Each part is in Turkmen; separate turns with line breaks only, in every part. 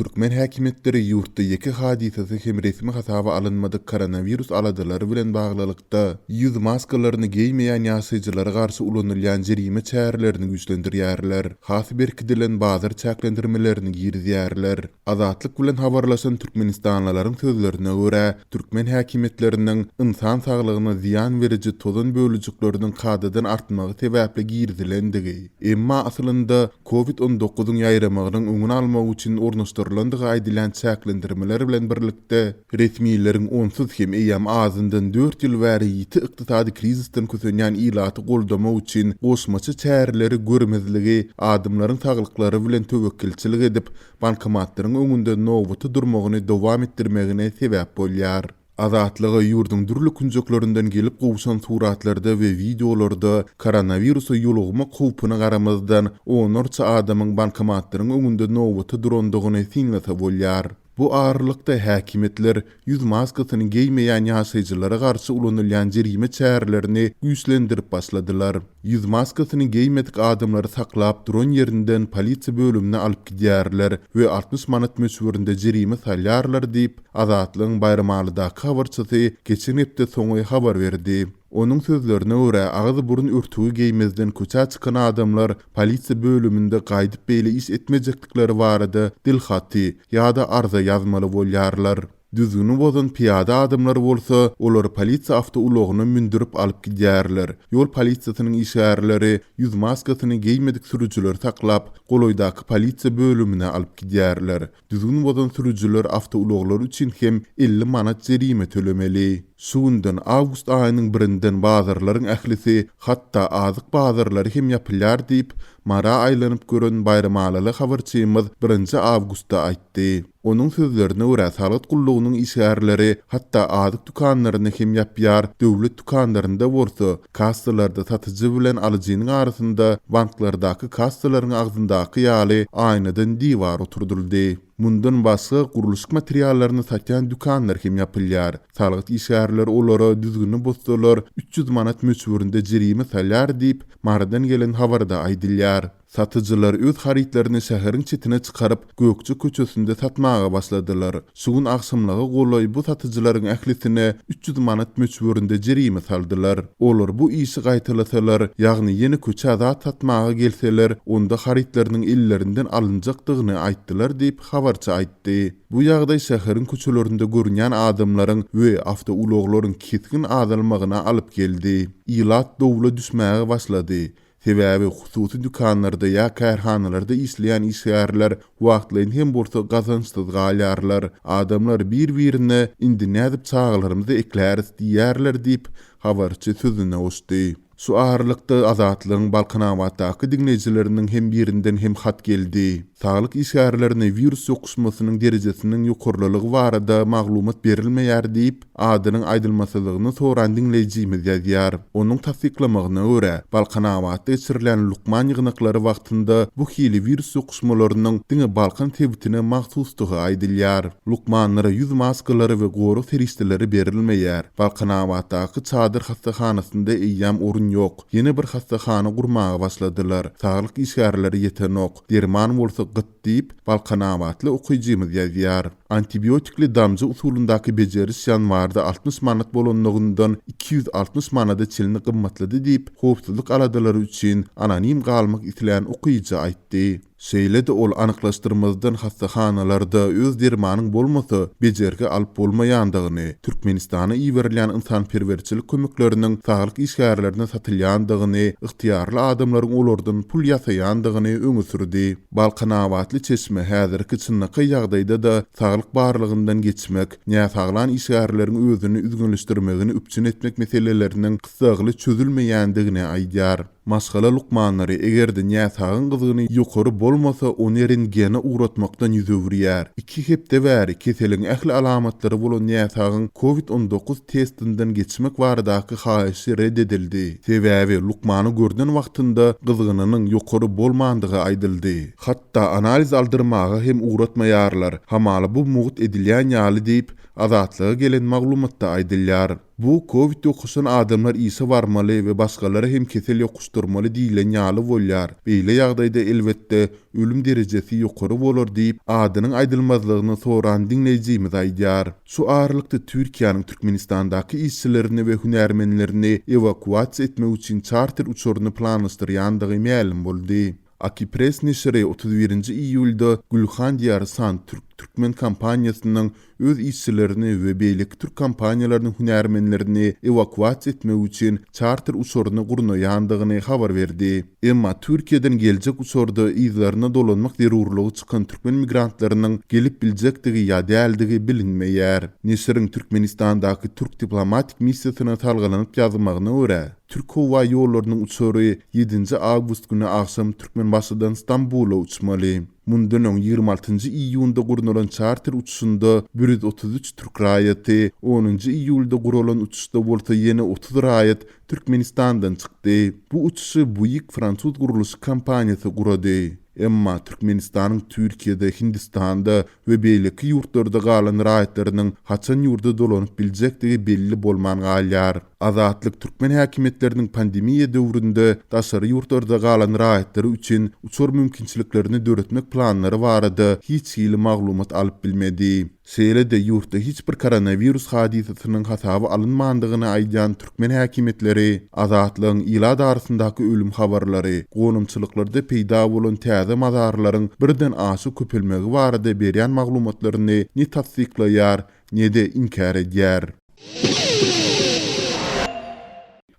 Türkmen häkimiýetleri ýurtda ýeke hadysasy hem resmi hasaba alynmadyk koronawirus aladalary bilen baglylykda, ýüz maskalaryny geýmeýän ýaşaýjylara garşy ulanylýan jerime çärelerini güýçlendirýärler, has berkidilen bazar çäklendirmelerini girizýärler. Azatlyk bilen habarlaşan türkmenistanlylaryň sözlerine görä, türkmen häkimiýetleriniň ynsan saglygyna zyýan beriji tozan bölejikleriniň kadadan artmagy sebäpli girizilendigi, emma aslynda Covid on dokuzyň ýaýramagynyň öňüni almak üçin ornaşdyrylandygy aýdylýan çäklendirmeler bilen birlikde, resmileriň onsuz hem eýýäm azyndan dört ýyl bäri ýiti ykdysady krizisden kösenýän ilaty goldamak üçin goşmaça çäreleri görmezligi, adamlaryň saglyklary bilen töwekgelçilik edip, bankomatlaryň öňünde nobata durmagyny dowam etdirmegine sebäp bolýar. Azatlyga ýurduň dürli künjeklerinden gelip gowşan suratlarda we wideolarda koronawirusa ýolugymak howpuna garamazdan, onlarça adamyň bankomatlaryň öňünde nobata durandygyny synlasa bolýar. Bu aralykda, häkimiýetler ýüz maskasyny geýmeýän ýaşaýjylara garşy ulanylýan jerime çärelerini güýçlendirip başladylar. Ýüz maskasyny geýmedik adamlary saklap duran ýerinden polisiýa bölümine alyp gidýärler we altmyş manat möçberinde jerime salýarlar diýip, Azatlygyň Baýramalydaky habarçysy geçen hepde soňy habar berdi. Onuň sözlerine görä, agyz-burun örtügi geýmezden köçä çykan adamlar polisiýa bölüminde gaýdyp beýle iş etmejekdikleri barada dil haty ýa-da arza ýazmaly bolýarlar. Düzgüni bozan pyýada adamlar bolsa, olary polisiýa awtoulagyna mündürip alyp gidýärler. Ýol polisiýasynyň işgärleri ýüz maskasyny geýmedik sürüjileri saklap, golaýdaky polisiýa bölümine alyp gidýärler. Düzgün bozan sürüjiler awtoulaglary üçin hem elli manat jerime tölemeli. Şu günden, awgust aýynyň birinden bazarlaryň ählisi, hatda azyk bazarlary hem ýapylýar diýip, Mara aýlanyp gören baýramalyly habarçymyz birinji awgustda aýtdy. Onuň sözlerine görä, salgyt gullugynyň işgärleri hatda azyk dükanlaryny hem ýapýar, döwlet dükanlarynda bolsa, Kassalarda satyjy bilen alyjynyň arasynda banklardaky kassalaryň agzyndaky ýaly aýnadan diwar oturdyldy. Mundan başga, gurluşyk materiallaryny satýan dükanlar hem ýapylýar. Salgyt işgärleri olara düzgüni bozsalar, üç ýüz manat möçberinde jerime salýar diýip, Marydan gelen habarda aýdylýar. Satyjylar öz harytlaryny şäheriň çetine çykaryp, Gökje köçesinde satmaga başladylar. Şu gün agşamlyga golaý bu satyjylaryň ählisine üç ýüz manat möçberinde jerime saldylar. Olar bu işi gaýtalasalar, ýagny ýene köçä zat satmaga gelseler, onda harytlarynyň ellerinden alynjakdygyny aýtdylar diýip, habarçy aýtdy. Bu ýagdaý şäheriň köçelerinde görünýän adamlaryň we awtoulaglaryň kesgin azalmagyna alyp geldi. Ilat dowla düşmäge başlady. Sebäbi hususy dükanlarda ýa kärhanalarda işleýän işgärler wagtlaýyn hem bolsa gazançsyz galýarlar. Adamlar bir-birine indi nädip çagalarymyzy ekläris diýýärler diýip, habarçy sözüne goşdy. Şu aralykda Azatlygyň Balkanabatdaky diňleýjileriniň hem birinden hem hat geldi. Saglyk işgärlerine wirus ýokuşmasynyň derejesiniň ýokarlylygy barada maglumat berilmeýär diýip, Adynyň aýdylmasylygyny soran diňleýjimiz ýazýar. Onuň tassyklamagyna görä, Balkanabatda geçirilýän lukman ýygnaklary wagtynda bu hili wirus ýokuşmalarynyň diňe Balkan sebitine mahsusdygy aýdylýar. Lukmanlara ýüz maskalary we gorag serişdeleri berilmeýär. Balkanabatdaky çadyr hassahanasynda eýýäm orun ýok. Ýene bir hassahana gurmaga başladylar. Saglyk işgärleri ýetenok. Derman bolsa gyt. Diýip, balkanabatly okyjymyz ýazýar. Antibiotikli damja usulyndaky bejeriş ýanwarda altmyş manat bolanlygyndan iki ýüz altmyş manada çenli gymmatlady diýip, howpsuzlyk aladalary üçin anonim galmak islän okyjy aýtdy. Şeýle-de ol anyklaşdyrmazdan hassahanalarda öz dermanyň bolmasa, bejergi alyp bolmaýandygyny, Türkmenistana iberilýän ynsanperwerçilik kömekleriniň saglyk işgärlerine satylýandygyny, ygtyýarly adamlaryň olardan pul ýasaýandygyny öňe sürdi. Balkanabatly çeşme häzirki çynlakaý ýagdaýda-da saglyk barlagyndan geçmek, näsaglan işgärleriň özüni üzňeleşdirmegini üpjün etmek meseleleriniň gyssagly çözülmeýändigini aýdýar. Maşgala lukmanlary eger-de näsagyň gyzgyny ýokary bolmasa, ony rentgene ugratmakdan ýüz öwürýär. Iki hepde bäri keseliň ähli alamatlary bolan näsagyň COVID on dokuz testinden geçmek baradaky haýyşy red edildi, sebäbi lukmany görnen wagtynda gyzgynynyň ýokary bolmandygy aýdyldy. Hatda analiz aldyrmaga hem ugratmaýarlar, hamala bu mugt edilýän ýaly diýip, Azatlyga gelen maglumatda aýdylýar. Bu covid ýokuşan adamlar işe barmaly we başgalara hem kesel ýokuşdyrmaly diýlen ýaly bolýar, beýle ýagdaýda elbetde, Ölüm derejesi ýokary bolar diýip, adynyň aýdylmazlygyny soran diňleýjimiz aýdýar. Şu aralykda Türkiýäniň Türkmenistandaky işçilerini we hünärmenlerini ewakuasiýa etmek üçin çarter uçaryny planlaşdyrýandygy mälim boldy. Akipress neşiri otuz birinji iýulda Gülhan Diýary Sant-Türk türkmen kompaniýasynyň öz işçilerini we beýleki türk kompaniýalarynyň hünärmenlerini ewakuasiýa etmek üçin çarter uçaryny gurnaýandygyny habar berdi. Emma Türkiýeden geljek uçarda yzlaryna dolanmak zerurlygy çykan türkmen migrantlarynyň gelip biljekdigi ýa däldigi bilinmeýär. Neşiriň Türkmenistandaky türk diplomatik missiýasyna salgylanyp ýazmagyna görä, Türk howa ýollarynyň uçary ýedinji awgust güni agşam Türkmenbaşydan Stambula uçmaly. Mundan öň ýigrimi altynjy iýunda gurnalan çarter uçuşynda bir ýüz otuz üç türk raýaty, onunjy iýulda guralan uçuşda bolsa ýene otuz raýat Türkmenistandan çykdy. Bu uçuşy Buig fransuz gurluşyk kompaniýasy gurady. Emma Türkmenistanyň Türkiýede, Hindistanda we beýleki ýurtlarda galan raýatlarynyň haçan ýurda dolanyp biljekdigi belli bolman galýar. Azatlyk türkmen häkimiýetleriniň pandemiýa döwründe daşary ýurtlarda galan raýatlary üçin uçar mümkinçiliklerini döretmek planlary barada hiç hili maglumat alyp bilmedi. Şeýle-de ýurtda hiç bir koronawirus hadysasynyň hasaba alynmandygyny aýdýan türkmen häkimiýetleri Azatlygyň ilat arasyndaky ölüm habarlary, gonamçylyklarda peýda bolan täze mazarlaryň birden aşa köpelmegi barada berýän maglumatlaryny ne tassyklaýar, ne-de inkär edýär.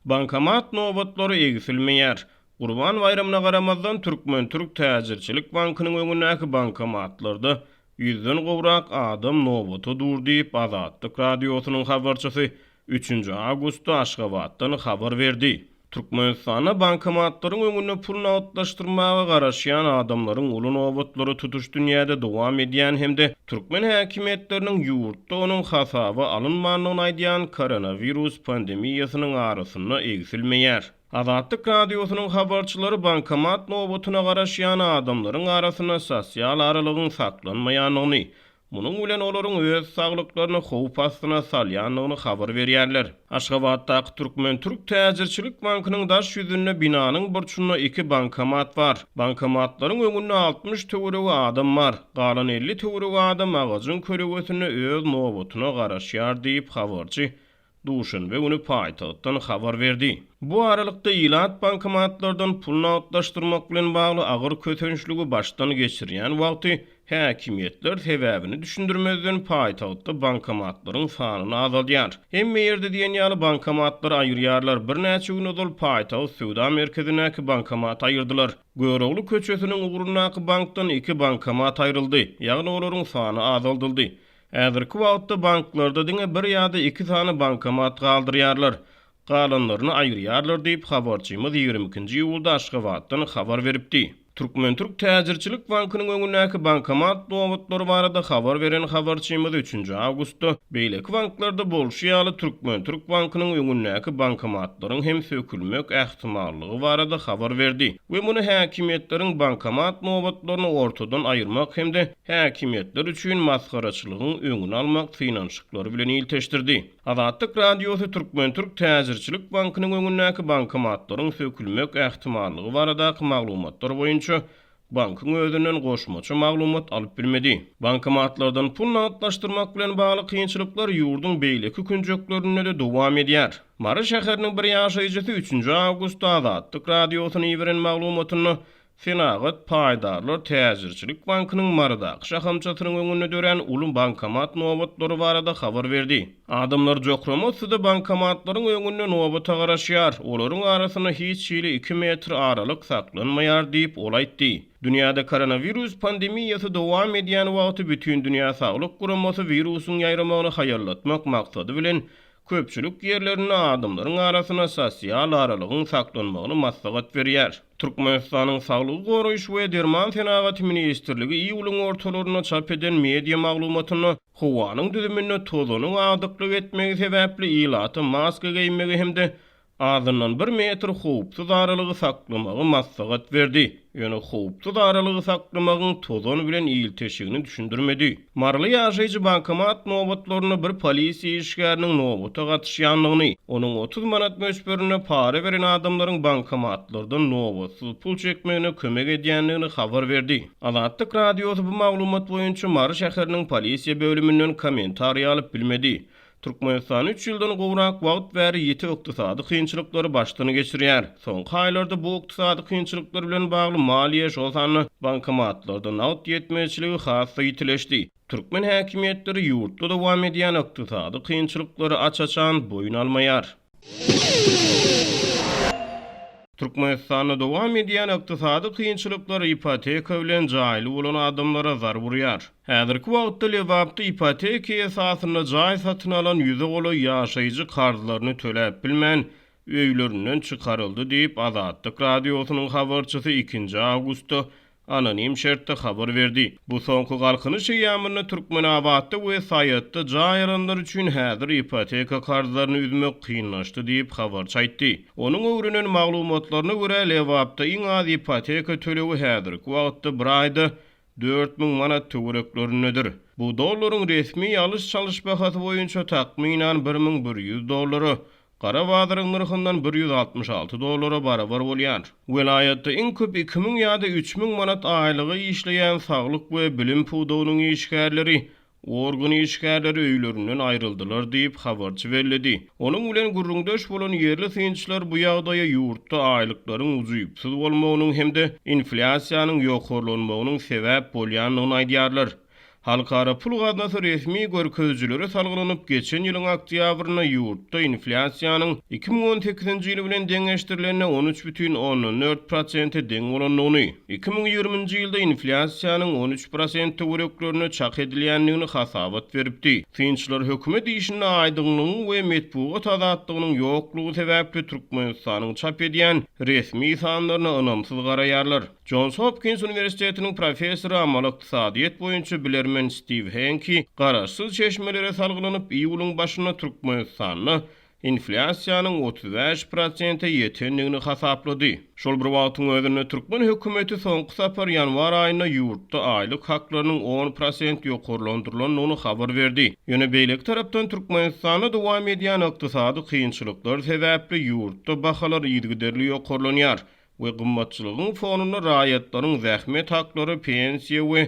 Bankomat nobatlary egsilmeýär. Gurban baýramyna garamazdan, Türkmen-türk täjirçilik bankynyň öňündäki bankomatlarda ýüzden gowrak adam nobata dur diýip, Azatlyk Radiosynyň habarçysy üçünji awgustda Aşgabatdan habar berdi. Türkmenistanda bankomatlaryň öňünde pul nagtlaşdyrmaga garaşýan adamlaryň uly nobatlary tutuş dünýäde dowam edýän hem-de türkmen häkimiýetleriniň ýurtda onuň hasaba alynmandygyny aýdýan koronawirus pandemiýasynyň arasynda egsilmeýär. Azatlyk Radiosynyň habarçylary bankomat nobatyna garaşýan adamlaryň arasynda sosial aralygyň saklanmaýandygyny, Munuň bilen olaryň öz saglyklaryny howp astyna salýandygyny habar berýärler. Aşgabatdaky Türkmen-türk täjirçilik bankynyň daş ýüzünde binanyň burçunda iki bankomat bar. Bankomatlaryň öňünde altmyş töweregi adam bar. Galan elli töweregi adam agajyň kölegesinde öz nobatyna garaşýar diýip, habarçy duşenbe güni paýtagtdan habar berdi. Bu aralykda ilat bankomatlardan pul nagtlaşdyrmak bilen bagly agyr kösençligi başdan geçirýän wagty, häkimiýetler sebäbini düşündirmezden paýtagtda bankomatlaryň sanyny azaldýar. Hemme ýerde diýen ýaly bankomatlary aýyrýarlar, birnäçe gün ozal paýtagt söwda merkezindäki bankomaty aýyrdylar. Görogly köçesiniň ugrundaky bankdan iki bankomat aýryldy, ýagny olaryň sany azaldyldy. Häzirki wagtda banklarda diňe bir ýa-da iki sany bankomat galdyrýarlar. Galanlaryny aýyrýarlar diýip, habarçymyz ýigrimi ikinji iýulda Aşgabatdan habar beripdi. Türkmen-türk täjirçilik bankynyň öňündäki bankomat nobatlary barada habar beren habarçymyz üçünji awgustda beýleki banklarda bolşy ýaly Türkmen-türk bankynyň öňündäki bankomatlaryň hem sökülmek ähtimallygy barada habar berdi we muny häkimiýetleriň bankomat nobatlaryny ortadan aýyrmak hem-de häkimiýetler üçin masgaraçylygyň öňüni almak synanyşyklary bilen ilteşdirdi. Azatlyk Radiosy Türkmen-türk täjirçilik bankynyň öňündäki bankomatlaryň sökülmek ähtimallygy baradaky maglumatlar boýunça bankyň özünden goşmaça maglumat alyp bilmedi. Bankomatlardan pul nagtlaşdyrmak bilen bagly kynçylyklar ýurduň beýleki künjeklerinde-de dowam edýär. Mary şäheriniň bir ýaşaýjysy üçünji awgustda Azatlyk Radiosyna iberen maglumatynda Senagat paýdarlar täjirçilik bankynyň Marydaky şahamçasynyň öňünde dörän uly bankomat nobatlary barada habar berdi. Adamlar jokrama-syda bankomatlaryň öňünde nobata garaşýar, olaryň arasynda hiç hili iki metr aralyk saklanmaýar diýip, ol aýtdy. Dünýäde koronawirus pandemiýasy dowam edýän wagty Bütindünýä Saglyk Guramasy wirusyň ýaýramagyny haýallatmak maksady bilen Köpçülik ýerlerinde adamlaryň arasynda sosial aralygyň saklanmagyny maslahat berýär. Türkmenistanyň Saglygy goraýyş we derman senagaty ministrligi iýulyň ortalarynda çap eden media maglumatynda howanyň düzüminde tozanyň agdyklyk etmegi sebäpli ilata maska geýmegi hem-de azyndan bir metr howpsuz aralygy saklamagy maslahat berdi, ýöne howpsuz aralygy saklamagyň tozan bilen ilteşigini düşündirmedi. Maryly ýaşaýjy bankomat nobatlarynda bir polisiýa işgäriniň nobata gatyşýandygyny, onuň otuz manat möçberinde para beren adamlaryň bankomatlardan nobatsyz pul çekmegine kömek edýändigini habar berdi. Azatlyk Radiosy bu maglumat boýunça Mary şäheriniň polisiýa bölüminden kommentariý alyp bilmedi. Türkmenistan üç ýyldan gowrak wagt bäri ýiti ykdysady kynçylyklary başdan geçirýär. Soňky aýlarda bu ykdysady kynçylyklar bilen bagly maliýe, şol sanda bankomatlarda nagt ýetmezçiligi has-da ýitileşdi. Türkmen häkimiýetleri ýurtda dowam edýän ykdysady kynçylyklary aç-açan boýun almaýar. Türkmenistanda dowam edýän ykdysady kynçylyklar ipoteka bilen jaýly bolan adamlara zarb urýar. Häzirki wagtda Lebapda ipoteka esasynda jaý satyn alan ýüze golaý ýaşaýjy karzlaryny töläp bilmän, öýlerinden çykaryldy diýip, Azatlyk Radiosynyň habarçysy ikinji awgustda anonim şertde habar berdi. Bu soňky Galkynyş eýýamynda Türkmenabatda we Saýatda jaý alanlar üçin häzir ipoteka karzlaryny üzmek kynlaşdy diýip, habarçy aýtdy. Onuň öwrenen maglumatlaryna görä, Lebapda iň az ipoteka tölegi häzirki wagtda bir aýda dört müň manat töwereklerindedir. Bu dollaryň resmi alyş-çalyş bahasy boýunça takmynan bir müň bir ýüz dollara, Gara bazaryň nyrhyndan bir ýüz altmyş alty dollara barabar bolýar. Welaýatda iň köp iki müň ýa-da üç müň manat aýlyga işleýän saglyk we bilim pudagynyň işgärleri, organ işgärleri öýlerinden aýryldylar diýip, habarçy belledi. Onuň bilen gürrüňdeş bolan ýerli synçylar bu ýagdaýa ýurtda aýlyklaryň ujypsyz bolmagynyň hem-de inflýasiýanyň ýokarlanmagynyň sebäp bolýandygyny aýdýarlar. Halkara pul gaznasy resmi görkezijilere salgylanyp, geçen ýylyň oktýabrynda ýurtda inflýasiýanyň iki müň on sekizinji ýyl bilen deňeşdirilende on üç bütin ondan dört prosente deň bolandygyny, iki müň ýigriminji ýylda inflýasiýanyň on üç prosent töwereklerinde çak edilýändigini hasabat beripdi. Synçylar hökümet işinde aýdyňlygyň we metbugat azatlygynyň ýoklugy sebäpli Türkmenistanyň çap edýän resmi sanlaryna ynamsyz garaýarlar. Jons Hopkins uniwersitetiniň professory, amaly ykdysadyýet boýunça bilermen Stiw Henki garaşsyz çeşmelere salgylanyp, iýulyň başynda Türkmenistanda inflýasiýanyň otuz bäş prosente ýetendigini hasaplady. Şol bir wagtyň özünde türkmen hökümeti soňky sapar ýanwar aýynda ýurtda aýlyk haklarynyň on prosent ýokarlandyrylandygyny habar berdi. Ýöne beýleki tarapdan Türkmenistanda dowam edýän ykdysady kynçylyklar sebäpli ýurtda bahalar yzygiderli ýokarlanýar. we gymmatçylygyň fonunda raýatlaryň zähmet haklary, pensiýa we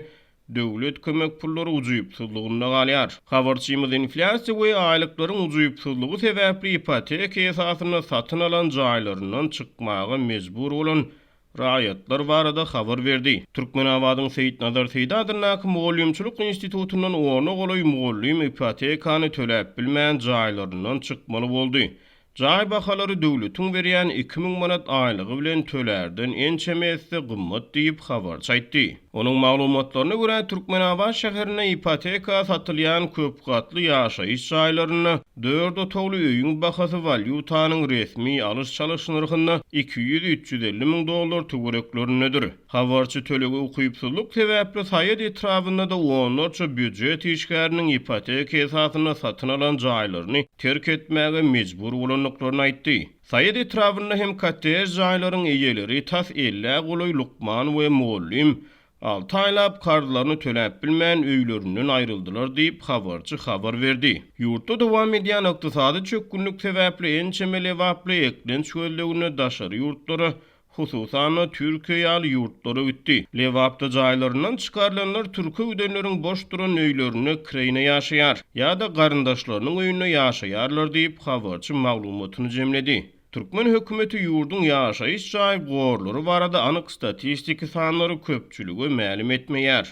döwlet kömek pullary ujypsyzlygynda galýar. Habarçymyz inflýasiýa we aýlyklaryň ujypsyzlygy sebäpli ipoteka esasynda satyn alan jaýlaryndan çykmaga mejbur bolan raýatlar barada habar berdi. Türkmenabadyň Seýitnazar Seýdi adyndaky mugallymçylyk institutyndan ona golaý mugallym ipotekany töläp bilmän jaýlaryndan çykmaly boldy. Jaý bahalary döwletiň berýän iki müň manat aýlygy bilen tölärden ençeme esse gymmat diýip, habarçy aýtdy. Onuň maglumatlaryna görä, Türkmenabat şäherinde ipoteka satylýan köpgatly ýaşaýyş jaýlarynda dört otagly öýüň bahasy walýutanyň resmi alyş-çalyş nyrhynda iki ýüz-üç ýüz elli müň dollar töwereklerindedir. Habarçy tölegi ukypsyzlyk sebäpli Saýat etrabynda-da onlarça býujet işgäriniň ipoteka esasynda satyn alan jaýlaryny terk etmäge mejbur bolandyklaryny aýtdy. Saýat etrabynda hem kottej jaýlaryň eýeleri tas ellä golaý lukman we mugallym alty aýlap karzlaryny töläp bilmän öýlerinden aýryldylar diýip, habarçy habar berdi. Ýurtda dowam edýän ykdysady çökgünlik sebäpli ençeme lebaply eklenç gözleginde daşary ýurtlara hususan-da, Türkiýe ýaly ýurtlara gitdi. Lebapda jaýlaryndan çykarylanlar türke gidenleriň boş duran öýlerinde kireýine ýaşaýar ýa-da garyndaşlarynyň öýünde ýaşaýarlar diýip, habarçy maglumatyny jemledi. Türkmen hökümeti ýurduň ýaşaýyş jaý gorlary barada anyk statistiki sanlary köpçülige mälim etmeýär.